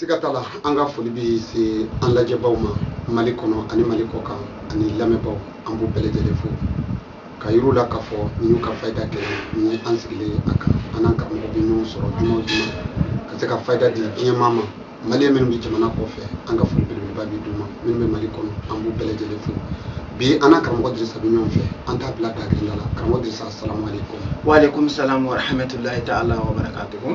siga t'a la an ka foli bɛ se an lajɛbaw ma mali kɔnɔ ani mali kɔkan ani lamɛnbaw an b'u bɛɛ lajɛlen fo k'a yir'u la k'a fɔ nin y'u ka fayida kɛnɛ ye an sigilen a kan an n'an karamɔgɔ bɛ ɲɔgɔn sɔrɔ juma o juma ka se ka fayida di diɲɛmaa ma mali minnu bɛ jamana kɔfɛ an ka foli belebeleba bɛ d'u ma minnu bɛ mali kɔnɔ an b'u bɛɛ lajɛlen fo bi an n'an karamɔgɔ dirisa bɛ ɲɔgɔn fɛ an t'a bila dakirila la karamɔgɔ dirisa salamu aleykum wa aleykum salamu wa rahmatulahi taala wa barakatuhu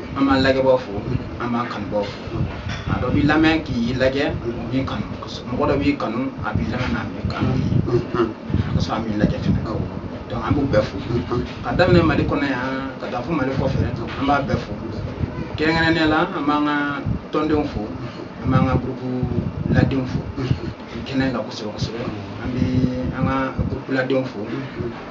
an b'an lajɛbaw fo an b'an kanubaw fo a dɔ b'i lamɛn k'i lajɛ o b'i kanu mɔgɔ dɔ b'i kanu a b'i lamɛn n'a b'i kanu ka sɔrɔ a b'i lajɛ fɛnɛ donc an b'u bɛɛ fo ka daminɛ mali kɔnɔ yan ka taa fo mali kɔfɛ an b'u bɛɛ fo kɛrɛnkɛrɛnnenya la an b'an ka tɔndenw fo an b'an ka gurupu ladenw fo kɛnɛ kan kosɛbɛ kosɛbɛ an bɛ an ka gurupu ladenw fo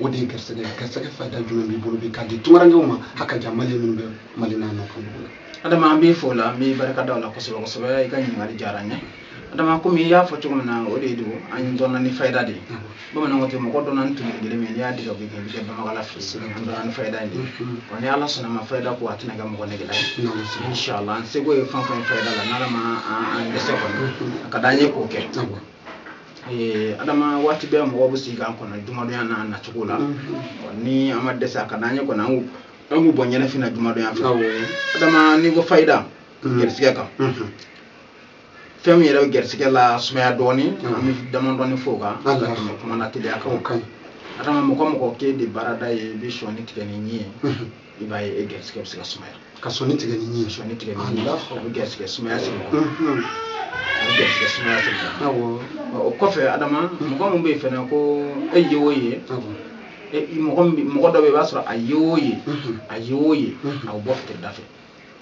o de ye garisɛgɛ garisɛgɛ fayida jumɛn b'i bolo bi k'a di tungarankew ma a ka jan mali minnu bɛ mali n'a nɔfɛ dugu la adama an b'i fo la an b'i barika da o la kosɛbɛ kosɛbɛ i ka ɲininkali diyara n ye adama komi i y'a fɔ cogo min na o de don an dɔnna ni fayida de ye bamananw tɛ mɔgɔ dɔnna ni tumu kelen min n'i y'a dege o bɛ kɛ i bɛ kɛ banbagala fɛ an dɔnna ni fayida in de wa ni ala sɔnn'a ma fayida ko a tɛna kɛ mɔgɔ negela ye inshallah an seko ye fɛn fɛn ye fayida la n'ala ma an dɛsɛ kɔni a ka d'an ye k'o kɛ Eh, adama waati bɛɛ mɔgɔw bɛ sigi k'an kɔnɔ jumadonya n'a nacogo la mm-hmm. ni an ma dɛsɛ a ka d'an ye kɔni an k'u bɔ ɲɛnafin na jumadonya fɛ adama n'i ko fayida mm-hmm. garisigɛ kan mm-hmm. fɛn min yɛrɛ bɛ garisigɛ lasumaya dɔɔnin an bɛ damadɔɔni fɔ o kan ka tɛmɛ kuma na teliya kan adama mɔgɔ mɔgɔ k'e de baarada ye i bɛ sɔnin tigɛ n'i ɲin ye i b'a ye e garisigɛ bɛ se ka sumaya ka sɔnin tigɛ ni ɲin ye sɔnin tigɛ ni ɲin ye o bɛ garisigɛ sumaya se mɔgɔ ma a bɛ garisigɛ sumaya se mɔgɔ ma awɔ o kɔfɛ adama mɔgɔ min bɛ yen fana ko e ye o ye awɔ e mɔgɔ min bɛ- mɔgɔ dɔ bɛ yen i b'a sɔrɔ a ye o ye a ye o ye a bɛ bɔ fitiri da fɛ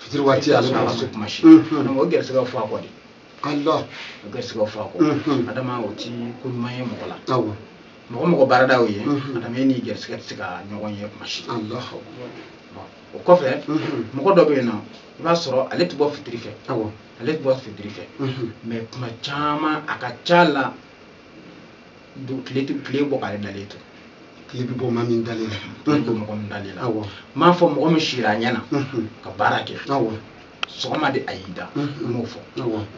fitiri waati ale t'a sɔrɔ kuma si Mhm. donc o garisigɛ fɔ a kɔ de ala o garisigɛ fɔ a kɔ Mhm. adama o ti ko ɲuman ye mɔgɔ la awɔ mɔgɔ mɔgɔ baarada y'o ye adama e n'i garisigɛ tɛ se ka ɲɔgɔn ye kuma si o kɔfɛ mɔgɔ dɔ bɛ yen fana i b'a sɔrɔ ale tɛ bɔ fitiri fɛ ale tɛ bɔ fitiri fɛ mɛ kuma caman a ka ca la tile tile bɔ k'ale dalen to tile bɛ bɔ maa min dalen la tile bɔ mɔgɔ min dalen la n m'a fɔ mɔgɔ min sira a ɲɛ na ka baara kɛ sɔgɔma de a y'i da n m'o fɔ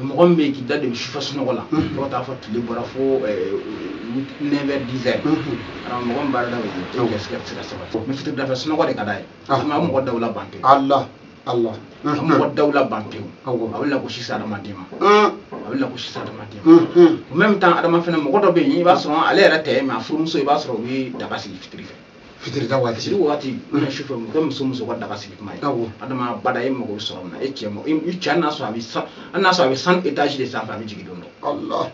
mɔgɔ min bɛ yen k'i da debi sufɛ sunɔgɔ la dɔw taa fo tile bɔra fo neuf heures dix heures mɔgɔ min baarada bɛ yen o garisigɛ tɛ se ka sabati mɛ fitiri dafɛ sunɔgɔ de ka d'a ye a bɛ mɔgɔ dawula ban pewu ala ala a bɛ mɔgɔ dawula ban pewu a bɛ lagosi se adamaden ma a bɛ lagosi se adamaden ma au même temps adama fana mɔgɔ dɔ bɛ yen i b'a sɔrɔ ale yɛrɛ tɛ mɛ a furumuso i b'a sɔrɔ u bɛ daga sigi fitiri fɛ fitiri da waati fitiri waati mana su fɛ mɔgɔ muso muso ka daga sigi kuma ye awɔ adama bada e mago bɛ sɔrɔ min na e cɛ mago i cɛ n'a sɔrɔ a bɛ san hali n'a sɔrɔ a bɛ san etazi de sanfɛ a bɛ jigin don dɔ allah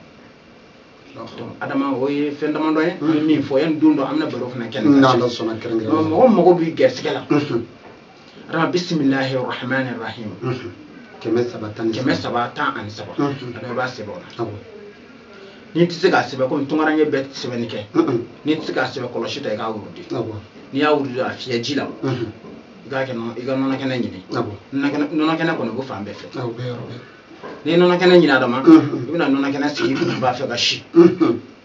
donc adama o ye fɛn damadɔ ye an bɛ min fɔ yanni don dɔ an bɛna baro fana kɛ nin kan. n'ala sɔnna kɛrɛnkɛrɛn mɔgɔ mago b'i gɛrisigɛ la ra bisimilahi rahman rahim kɛmɛ saba tan kɛmɛ saba tan ani saba adama i b'a sɛbɛn o la n'i tɛ se k'a sɛbɛn komi tunkaranke bɛɛ tɛ sɛbɛnni kɛ n'i tɛ se k'a sɛbɛn kɔlɔsi ta i k'a wurudi n'i y'a wurudi a fiyɛ ji la i k'a kɛ i ka nɔnɔ kɛnɛ ɲini nɔnɔ kɛnɛ kɔni b'o fan bɛɛ fɛ n'i ye nɔnɔ kɛnɛ ɲini adama i bɛna nɔnɔ kɛnɛ sigi i ba fɛ ka si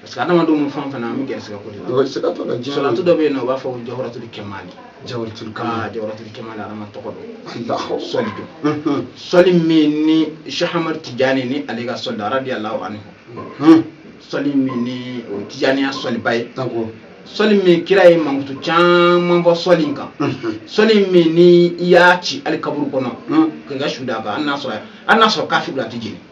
parce que adamadenw ni fɛn fana an bɛ gɛrɛsɛgɛ ko de la gɛrɛsɛgɛ tɔ la diɲɛ salatu dɔ bɛ yen nɔ u b'a fɔ ko jawaratul kɛmali jawaratul kɛmali aa jawaratul kɛmali adama tɔgɔ don sɔli don sɔli min ni shɛ ahamad tijani ni ale ka sɔli don radiyalahu anhu sɔli min ni o tijaniya sɔliba ye sɔli min kira ye mankutu caman fɔ sɔli in kan sɔli min ni i y'a ci hali kaburu kɔnɔ k'i ka su d'a kan hali n'a sɔrɔ hali n'a sɔrɔ kafiri don a tɛ jeni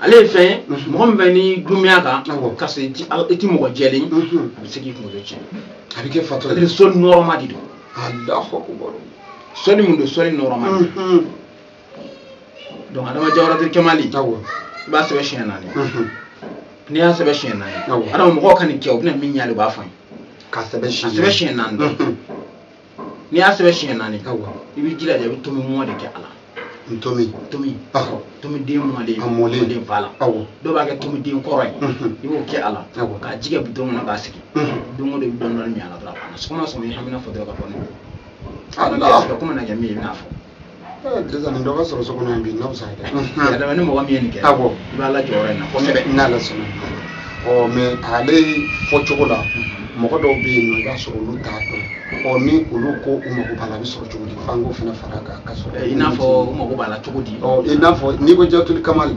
ale ye fɛn ye mhm. mɔgɔ min bɛ ni dununya kan ka sɔrɔ i ti i ti mɔgɔ jɛlen mhm. a bɛ se k'i kunkolo tiɲɛ a bɛ kɛ fatɔ ye sɔli nɔrɔma de don alahu akubar sɔli mun don sɔli nɔrɔma de don mhm. donc adama jawaratul kamali i b'a sɛbɛn siɲɛ naani n'i y'a sɛbɛn siɲɛ naani adama mɔgɔw ka nin kɛ u bɛna min ye a la i b'a fɔ n ye k'a sɛbɛn siɲɛ naani dɔrɔn n'i y'a sɛbɛn siɲɛ naani i b'i jilaja i bɛ ntomi mɔ de kɛ a la ntomi ntomi awɔ ntomi den mɔlen a mɔlen den fa la awɔ dɔw b'a kɛ ntomi den kɔrɔ ye i b'o kɛ a la awɔ k'a ji kɛ bidɔn kɔnɔ k'a sigi don o don i bɛ dɔɔni dɔɔni min a la dɔrɔn a banna sɔgɔma sɔgɔma i hamina fɔ dɔrɔn ka bɔ ne bolo a bɛ kɛ komi na kɛ min ye i bɛna fɔ Disa nin dɔ ka sɔrɔ so kɔnɔ bi n'a bɛ sa dɛ. Adama ni mɔgɔ min ye nin kɛ. Awɔ. I b'a la jɔyɔrɔ in na kosɛbɛ. N n'ala sɔnna. Ɔ mɛ ale fɔ cogo la mɔgɔ dɔw bɛ yen nɔ i b'a sɔrɔ olu t'a dɔn. Ɔ ni olu ko u mago b'a la a bɛ sɔrɔ cogo di f'an k'o fana fara a kan ka sɔrɔ. I n'a fɔ u mago b'a la cogo di. Ɔ i n'a fɔ n'i ko jawaratul kamali.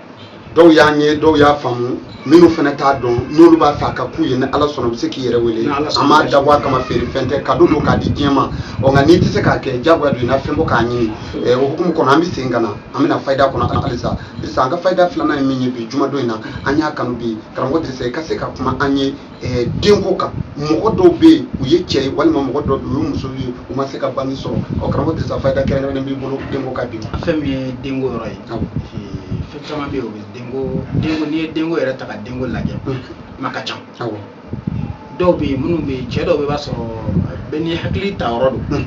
dɔw y'an ye dɔw y'a faamu minnu fana t'a dɔn n'olu b'a fɛ a ka k'u ye ni ala sɔnna u bɛ se k'i yɛrɛ wele an m'a dabɔ a kama feerefɛn tɛ kado don k'a di diɲɛ ma ɔ nka n'i tɛ se k'a kɛ jagoya don i na fɛn bɔ k'a ɲini ɛ o hukumu kɔnɔ an bɛ segin ka na an bɛna fayida kɔnɔ halisa sisan an ka fayida filanan ye min ye bi jumadon in na an y'a kanu bi karamɔgɔ dirisa i ka se ka kuma an ye eh, denko kan mɔgɔ dɔw bɛ yen u ye cɛ ye walima mɔgɔ dɔw bɛ yen u ye muso ye u ma se ka bange sɔrɔ ɔ karamɔgɔ dirisa fayida kɛrɛnkɛrɛnnen b'i bolo denko kan bi fɛn min ye denko yɔrɔ ye fɛn caman bɛ yen o bɛ denko denko n'i ye denko yɛrɛ ta ka denko lajɛ maa ka ca dɔw bɛ yen minnu bɛ yen cɛ dɔw bɛ b'a sɔrɔ bɛɛ n'i hakili ta yɔrɔ don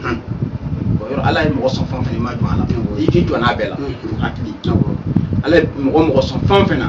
yɔrɔ ala ye mɔgɔ sɔn fɛn fɛn i ma jɔ a la i k'i jɔ n'a bɛɛ la hakili ala ye mɔgɔ mɔgɔ sɔn fɛn fɛn na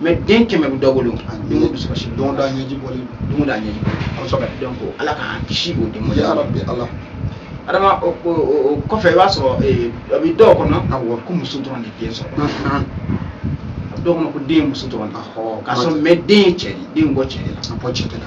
mɛ den kɛmɛ bɛ dɔ bolo don o dusukasi don da ɲɛji bɔli don da ɲɛji a bɛ sɔrɔ ka dɔn ko ala k'an kisi o den ya rabbi ala adama o kɔfɛ i b'a sɔrɔ a bɛ dɔw kɔnɔ awɔ ko muso dɔrɔn de den sɔrɔ a bɛ dɔw kɔnɔ ko den ye muso dɔrɔn de ka sɔrɔ mɛ den ye cɛ de den bɔ cɛ de la a bɔ cɛ de la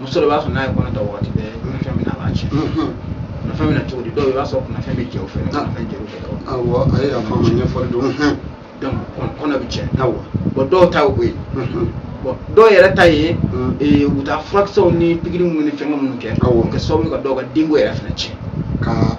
muso de b'a sɔrɔ n'a ye kɔnɔ ta wagati bɛɛ kunnafɛn min na a b'a tiɲɛ kunnafɛn min na cogo di dɔw i b'a sɔrɔ kunnafɛn bɛ jɛ o fɛ kunnafɛn jɛ o fɛ awɔ a ye yafa ma ɲɛfɔli don donc kɔnɔ bɛ tiɲɛ awɔ bɔn dɔw ta o ye bɔn dɔw yɛrɛ ta ye u taa furakisɛw ni pikiri minnu ni fɛn minnu kɛ awɔ kɛ sababu ka dɔw ka denko yɛrɛ fana tiɲɛ ka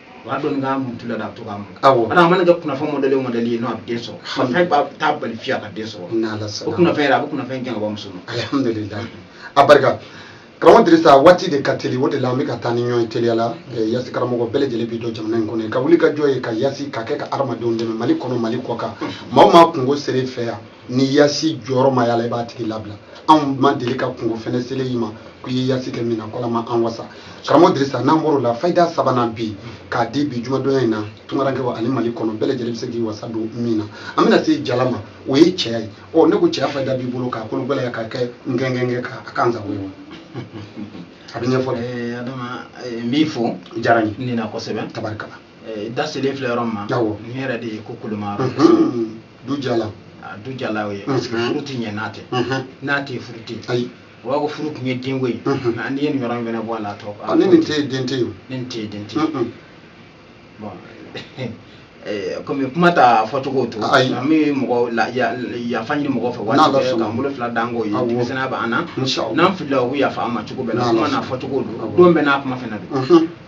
o y'a don i ka muntulu la a bɛ to k'a mun awɔ a mana kɛ kunnafɛn mɔdɛli o mɔdɛli ye n'o a bɛ den sɔrɔ kunnafɛn b'a t'a bali fewu a ka den sɔrɔ n'ala sɔnna kunnafɛn yɛrɛ a bɛ kunnafɛn gɛn ka bɔ muso ma alhamdulilayi a barika karamɔgɔ dirisa waati de ka teli o de la an bɛ ka taa ni ɲɔgɔn ye teliya la Eh, yasi karamɔgɔ bɛɛ lajɛlen b'i dɔn jamana in kɔnɔ n'i ka wulikajɔ ye ka yasi ka kɛ ka hadamadenw dɛmɛ mali kɔnɔ mali kɔkan maa o maa kunko sera i fɛ yan ni yasi jɔyɔrɔ ma yala i b'a tigi labila anw ma deli ka kunko fɛnɛ selen y'i ma ko i ye yasi kɛ min na k'ala ma an wasa karamɔgɔ dirisa n'an bɔr'o la fayida sabanan bi k'a di bi jumadɔnya in na tungarankɛw ani mali kɔnɔ bɛɛ lajɛlen bɛ se k'i wasa don min na an bɛna se jala ma o ye cɛya ye ɔ ne ko cɛya fayida b'i bolo k'a kolo gɛlɛya k'a kɛ ngɛngɛngɛ ka a kan sago ye wa a bɛ ɲɛfɔ dɛ adama n b'i fo diyara n ye nin na kosɛbɛ tabarikala da selen filɛ yɔrɔ min ma n yɛrɛ de ye ko koloma yɔrɔ du jala a du jala o ye parce que furu tɛ ɲɛ n'a tɛ n'a tɛ furu tɛ ayi o b'a ko furu tun ye denko ye mɛ n'i ye nin yɔrɔ in fana bɔ a la a tɔ ni nin tɛ yen den tɛ yen ni nin tɛ yen den tɛ yen bɔn komi kuma t'a fɔcogo to an bɛ mɔgɔ yafa ɲini mɔgɔ fɛ waati bɛɛ k'an bolo fila d'an kɔ ye denmisɛnninya b'an na n'an filila u bɛ yafa an ma cogo bɛɛ la kuma n'a fɔcogo don don bɛɛ n'a kuma fana don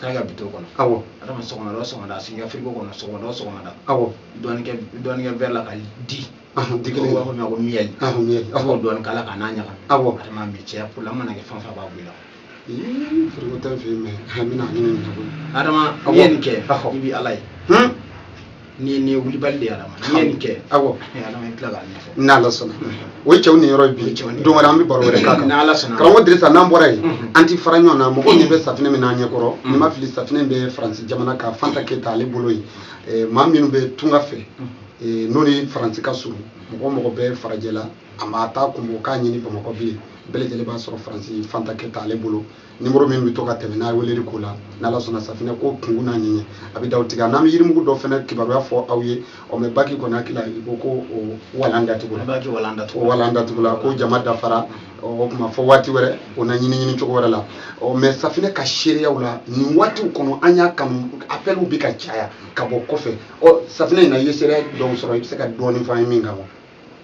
k'a kɛ bidɔn kɔnɔ awɔ adama sɔgɔmada o sɔgɔmada a sigira firigo kɔnɔ sɔgɔmada o sɔgɔmada awɔ dɔɔni kɛ dɔɔni kɛ wɛri la ka di dikili b'a fɔ min ma ko miyɛli miyɛli awɔ dɔɔni k'a la ka n'a ɲagami awɔ adama mi cɛya purobulɛmu mana kɛ fɛn fɛn b'a b'i la firigo t'an fɛ yen mɛ a bɛna a ɲini nin na koyi adama n'i ye nin kɛ i bɛ ala ye ni ni wulibali de y'a ma n'i ye nin kɛ awɔ ala i tila k'a ɲɛfɔ n'ala sɔnna o ye cɛw niyɔrɔ ye bi don wɛrɛ an bɛ baro wɛrɛ k'a kan n'ala sɔnna karamɔgɔ dirisa n'an bɔra yen an ti fara ɲɔgɔn na mɔgɔw ɲɛ bɛ safinɛ min n'an ɲɛ kɔrɔ ni n ma fili safinɛ bɛ faransi jamana ka fanta keyita ale bolo yen maa minnu bɛ tunga fɛ n'u ni faransi ka surun mɔgɔ o mɔgɔ bɛ farajɛla a ma taa kun bɔ k'a ɲini bamakɔ bilen bɛɛ lajɛlen b'a sɔrɔ faransi fanta keyita ale bolo nimoro min bɛ to ka tɛmɛ n'a ye weleli ko la n'ala sɔnna safinɛ ko kunkun n'a ɲɛɲɛ a bɛ d'aw tulo kan an bɛ yirimugu dɔ fana kibaruya fɔ aw ye ɔ mɛ baki kɔni hakili la i ko ko o walan datugula o walan datugula ko jama dafara o tuma fɔ waati wɛrɛ o na ɲini ɲini cogo wɛrɛ la ɔ mɛ safinɛ ka seereyaw la nin waatiw kɔnɔ an y'a kanu apɛliw bɛ ka caya ka bɔ kɔfɛ ɔ safinɛ in na i ye seereya dɔw sɔrɔ i bɛ se ka dɔɔnin fɔ an ye min kan wa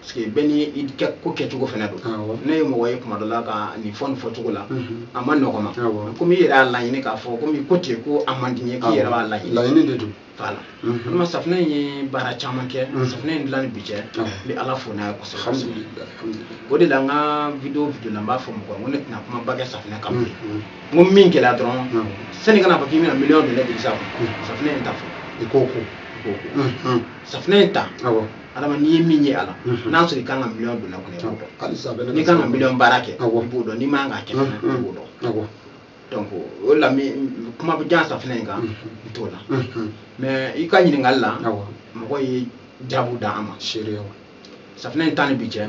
parce que bɛɛ ni i ka ko kɛcogo fana don ne ye mɔgɔ ye kuma dɔ la ka nin fɔ nin fɔcogo la mhm. a man nɔgɔ n ma komi i yɛrɛ y'a laɲini k'a fɔ komi ko ten ko a man di n ye k'i yɛrɛ b'a laɲini laɲini de don voilà mhm. walima safunɛ in ye baara caman kɛ mhm. safunɛ in dilan ni bi cɛ n bɛ ala fo n'a ye kosɛbɛ o de la n ka video video la n b'a fɔ mɔgɔ ye n ko ne tɛna kumaba kɛ safunɛ kan bilen n ko min gɛlɛya dɔrɔn sani ka n'a fɔ k'i bɛna miliyɔn don ne bilisa safunɛ in ta fɔlɔ i k'o ko i k'o ko safunɛ in ta adama n'i ye min ye a la mhm. n'a sɔrɔ i kan ka miliyɔn don a kɔnɔ i b'o dɔn n'i kan ka miliyɔn baara kɛ i b'o dɔn n'i man ka kɛ fana i b'o dɔn donc o la min kuma bɛ jan safinɛ in kan n t'o la mais i ka ɲininkali la mɔgɔw ye jaabu d'an ma safinɛ in ta ni bi cɛ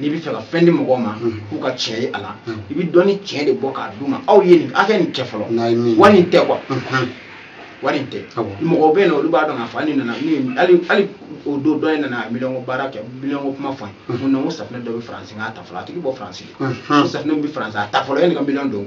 n'i b'a fɛ ka fɛn di mɔgɔw ma k'u ka tiɲɛ ye a la i bɛ dɔnni tiɲɛ de bɔ k'a d'u ma aw ye nin aw kɛ nin kɛ fɔlɔ wari in tɛ quoi wari in tɛ mɔgɔw bɛ yen n'olu b'a dɔn k'a fɔ hali nana hali hali o don dɔ in nana miliyɔn ko baara kɛ miliyɔn ko kuma fɔ n ye ko safunɛ dɔ bɛ faransi k'a ta fɔlɔ a tigi bɔ faransi safunɛ bɛ faransi a ta fɔlɔ yanni ka miliyɔn don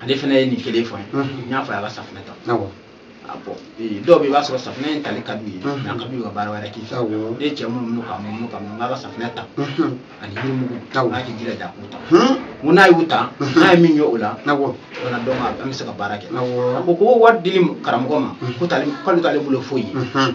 ale fana ye nin kelen fɔ n ye n y'a fɔ a ye a ka safinɛ ta dɔw bɛ yen i b'a sɔrɔ safinɛ in tali ka d'u ye nka ka d'u ka baara wɛrɛ k'i fɛ ne cɛ minnu minnu ka minnu ka minnu b'a ka safinɛ ta ani yirimugu n'a k'i jilaja k'u ta ko n'a y'u ta n'a ye min ye o la o fana dɔn an bɛ se ka baara kɛ a ko ko wari dili karamɔgɔ ma ko k'ale t'ale bolo foyi ye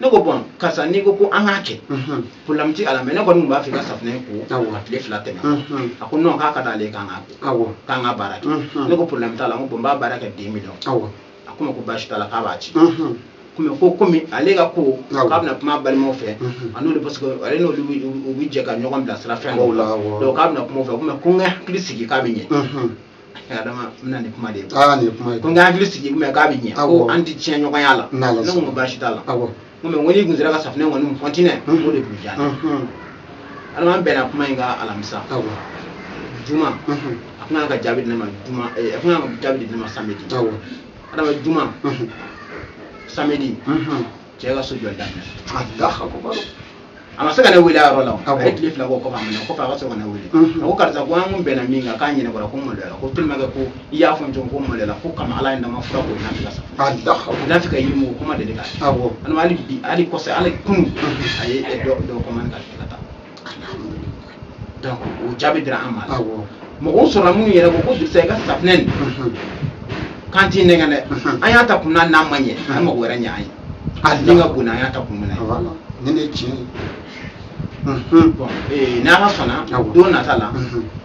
ne ko bɔn karisa n'i ko ko an k'a kɛ problème t'a la mais ne kɔni tun b'a fɛ i ka safinɛ ko a tile fila tɛmɛ a ko non k'a ka d'ale ye k'an k'a ko k'an ka baara kɛ ne ko problème t'a la n ko bɔn n b'a baara kɛ deux millions a ko n ma ko baasi t'a la k'a b'a ci komi ko komi ale ka ko k'a bɛna kuma balimaw fɛ a n'olu parce que ale n'olu u bɛ jɛ ka ɲɔgɔn bilasira fɛn dɔw la donc k'a bɛna kuma u fɛ komi ko n ka n hakili sigi k'a bɛ ɲɛ adama n bɛna nin kuma de ye aa nin ye kuma ye ko n ka n hakili sigi mais k'a bɛ ɲɛ ko an tɛ tiɲɛ ɲɔgɔn la ne ko n ko baasi t'a la n ko mais n ko n'i kun sera ka safinɛ kɔni mun continuer o de tun diya adama an bɛnna kuma in kan alamisa juma a kun kan ka jaabi di ne ma juma a kun kan ka jaabi di ne ma samedi adama juma samedi cɛ ka so jɔli daminɛ a ma se ka ne wele a yɔrɔ la a ye tile fila k'o kɔfɛ a minɛ kɔfɛ a ka sɔrɔ ka ne wele a ko karisa ko an kun bɛnna min kan k'a ɲɛnabɔra ko maloya ko tellement que ko i y'a fɔ n cogo ko maloya ko kama ala ye nama fura ko n'a fɛ ka sa n'a fɛ ka yirimugu kɔmandeli kɛ hali bi hali kɔfɛ hali kunu a ye dɔ dɔ kɔmani ka taa donc o jaabi dira an ma awɔ mɔgɔw sɔrɔla minnu yɛrɛ ko ko dugusa i ka safinɛ nin Mhm. k'an t'i nɛgɛn dɛ Mhm. an y'a ta kun min na n'a ma ɲɛ an mago wɛrɛ ɲɛ an ye a Ala. min ka bon n'an y'a ta kun min ye awɔ nin ye tiɲɛ ye Mhm. bɔn ee n'ala sɔnna Awɔ. don nata la Mhm.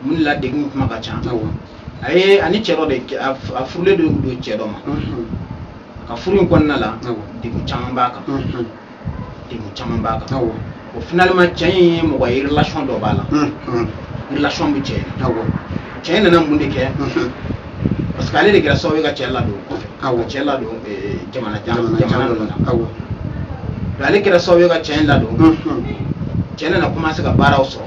mun de la degun kuma ka ca a ye ani cɛ dɔ de a furulen de don cɛ dɔ ma ka furu in kɔnɔna la degun caman b'a kan degun caman b'a kan o finalement cɛ in ye mɔgɔ ye relation dɔ b'a la relation bɛ cɛ in cɛ in nana mun de kɛ parce que ale de kɛra sababu ye ka cɛ ladon kɔfɛ ka cɛ ladon jamana jamana ninnu na ale kɛra sababu ye ka cɛ in ladon cɛ nana commencé ka baaraw sɔrɔ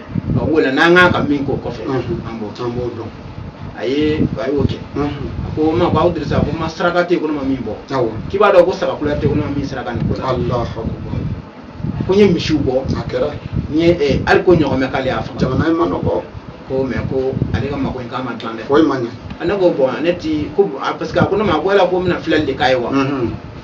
ɔ b'o la n'an ka kan ka min k'o kɔfɛ an b'o an b'o dɔn a ye a y'o kɛ a ko ma ko aw dirisa ko ma saraka tɛ ko ne ma min bɔ k'i b'a dɔn ko saga kula tɛ ko ne ma min saraka nin ko la ko n ye misiw bɔ a kɛra n ye eh, hali ko ɲɔgɔmɛ k'ale y'a faga jamana in ma nɔgɔ ko mais ko ale ka mako in k'a ma dilan dɛ foyi ma ɲɛ ne ko bon ne ti ko parce que a ko ne ma ko yala ko n bɛna filɛli de k'a ye wa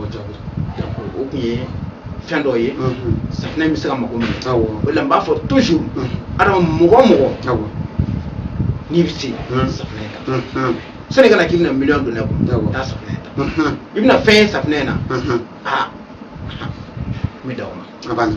o tun ye fɛn dɔ ye safinɛ bɛ se ka mago minɛ o la n b'a fɔ toujours adama mɔgɔ mɔgɔ n'i bɛ se safinɛ kan sani kana k'i bɛna miliyɔn don ne kun taa safinɛ ta i bɛna fɛn ye safinɛ in na aa n bɛ dan o ma a banna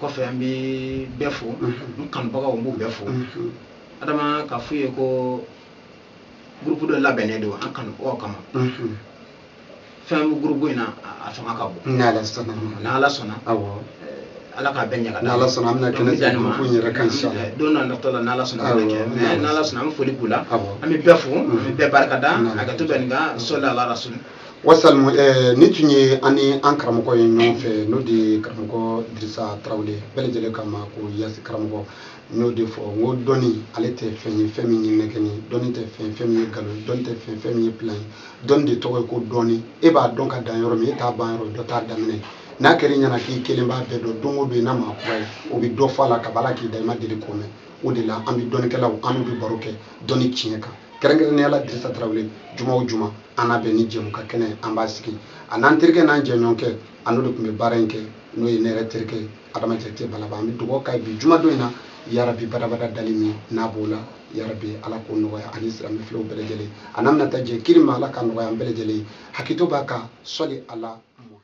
kɔfɛ an bɛ bɛɛ fo n kanubagaw n b'u bɛɛ fo adama k'a f'u ye ko gurupu dɔ labɛnnen don an kanubagaw kama fɛn bɛ gurupu in na a fanga ka bon n'ala sɔnna n'ala sɔnna ala k'a bɛɛ ɲaga n'ala sɔnna an bɛna kɛnɛ jani ma kun yɛrɛ kan sa don natɔ la n'ala sɔnna an b'a kɛ mais n'ala sɔnna an bɛ foli k'u la an bɛ bɛɛ fo an bɛ bɛɛ barika da hakɛto bɛ nin kan sɔli ala rasuli wasalmu eh, nin tun ye an ni an karamɔgɔ ye ɲɔgɔn fɛ n'o de ye karamɔgɔ dirisa tarawele bɛɛ lajɛlen ka ma ko yasi karamɔgɔ n y'o de fɔ n ko dɔnni ale tɛ fɛn ye fɛn min ye nɛgɛni dɔnni tɛ fɛn fɛn min ye galon dɔnni tɛ fɛn fɛn min ye pilan ye dɔnni de tɔgɔ ye ko dɔnni e b'a dɔn ka dan yɔrɔ min e ta ban yɔrɔ dɔ ta daminɛ n'a kɛra i ɲɛna k'i kelen b'a bɛɛ dɔn don o don i na maa kura ye o bɛ dɔ fɔ a la kabi k'i da i ma deli k'o mɛn o de la an bɛ dɔnnikɛlaw an n'u bɛ baro kɛ dɔnni tiɲɛ kan kɛrɛnkɛrɛnnenya la dirisa tarawele juma o juma an na bɛn ni jɛmukan kɛnɛ ye an b'a sigi a n'an terikɛ n'an jɛɲɔgɔnkɛ a n'o de tun bɛ baara in kɛ n'o ye ne yɛrɛ terikɛ ye adama jakite balaba an bɛ dugawu kɛ bi jumadon in na yarabi badabada dali min n'a b'o la yarabi ala k'o nɔgɔya ani silamɛ filew bɛɛ lajɛlen a n'an bɛna taa jɛ kiri ma ala k'a nɔgɔya an bɛɛ lajɛlen ye hakito b'a kan sɔli ala